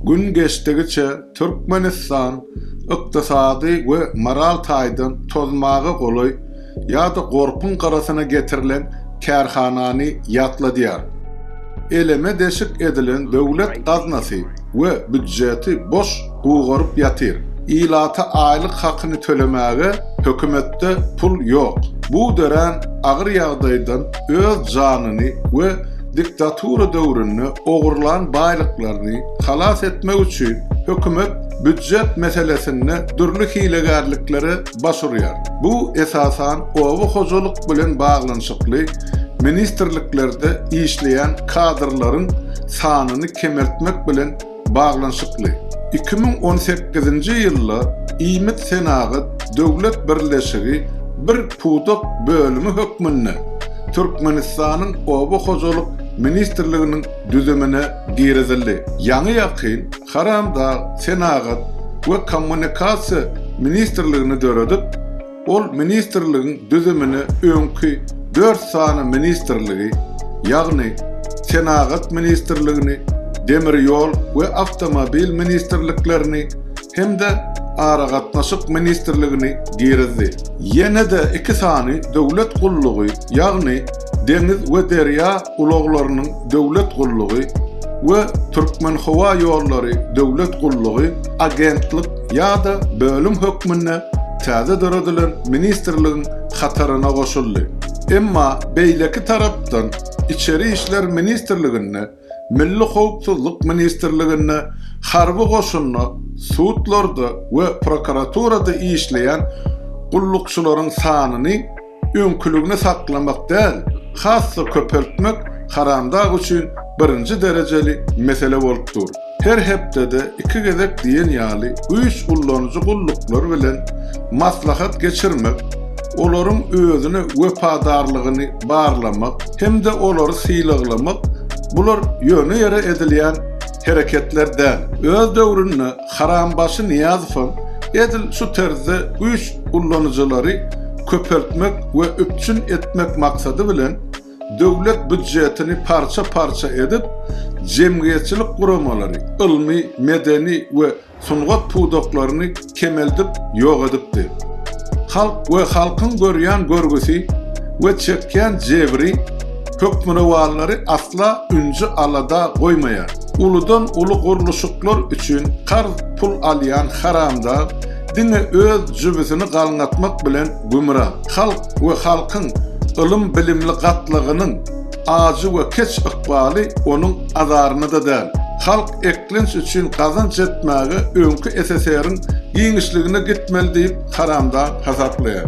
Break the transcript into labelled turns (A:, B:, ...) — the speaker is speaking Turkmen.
A: Gün geçdigiçe Türkmenistan ykdysady we moral taýdan tozmaga golaý ýa-da gorpuň gyrasyna getirilen kärhanany ýatladýar. Eleme-deşik edilen döwlet gaznasy we býudjeti boş gugaryp ýatyr. Ilata aýlyk hakyny tölemäge hökümetde pul ýok. Bu dörän agyr ýagdaýdan öz janyny we Diktatura döwründe ogurlan baýlyklaryny halas etmek üçin hökümet býujet meselesinde dürli hilegärliklere baş urýar. Bu esasan oba hojalyk bilen baglanyşykly ministrliklerde işleýän kadrlaryň sanyny kemeltmek bilen baglanyşykly, iki müň on sekizinji ýylda Iýmit-senagat döwlet birleşigi bir pudak bölümi hökmünde Türkmenistanyň Oba hojalyk ministrliginiň düzümine girizildi. Ýaňy-ýakyn Haramdag Senagat we kommunikasiýa ministrligini döredip, Ol ministrligiň düzümine öňki dört sany ministrligi, ýagny Senagat ministrligini, Demir ýol we awtomobil ministrliklerini hem-de Aragatnaşyk ministrligini girizdi. Ýene-de iki sany döwlet gullugy, ýagny Deňiz we derýa ulaglarynyň döwlet gullugy we Türkmenhowaýollary döwlet gullugy agentlik ýa-da bölüm hökmünde täze döredilen ministrligiň hataryna goşuldy. Emma beýleki tarapdan Içeri işler ministrliginde, Milli howpsuzlyk ministrliginde, harby goşunda, sudlarda we prokuraturada işleýän gullukçylaryň sanyny öňküligini saklamak däl, has-da köpeltmek Haramdag üçin birinji derejeli mesele bolup dur. Her hepdede iki gezek diýen ýaly güýç ullanyjy gulluklar bilen maslahat geçirmek, olaryň özüne wepadarlygyny barlamak hem-de olary sylaglamak bular ýöne ýere edilýän hereketler däl. Öz döwründe Harambaşy Nyýazowam edil şu terzde güýç ullanyjylary köpeltmek we üpjün etmek maksady bilen, döwlet býudjetini parça-parça edip, jemgyýetçilik guramalary, ylmy, medeni we sungat pudaklaryny kemeldip ýok edipdi. Halk we halkyň görýän görgüsi we çekýän jebri hökmürowanlary asla ünji-alada goýmaýar. Uludan uly gurluşyklar üçin karz pul alýan haramdag diňe öz jübüsini galňatmak bilen gümra. Halk we halkyň ylym bilimli gatlagynyň ajy we keç ykbaly onuň azarynada däl. Halk eklenç üçin gazanç etmäge öňki SSR-iň giňişligine gitmeli diýip haramdag hasaplaýar.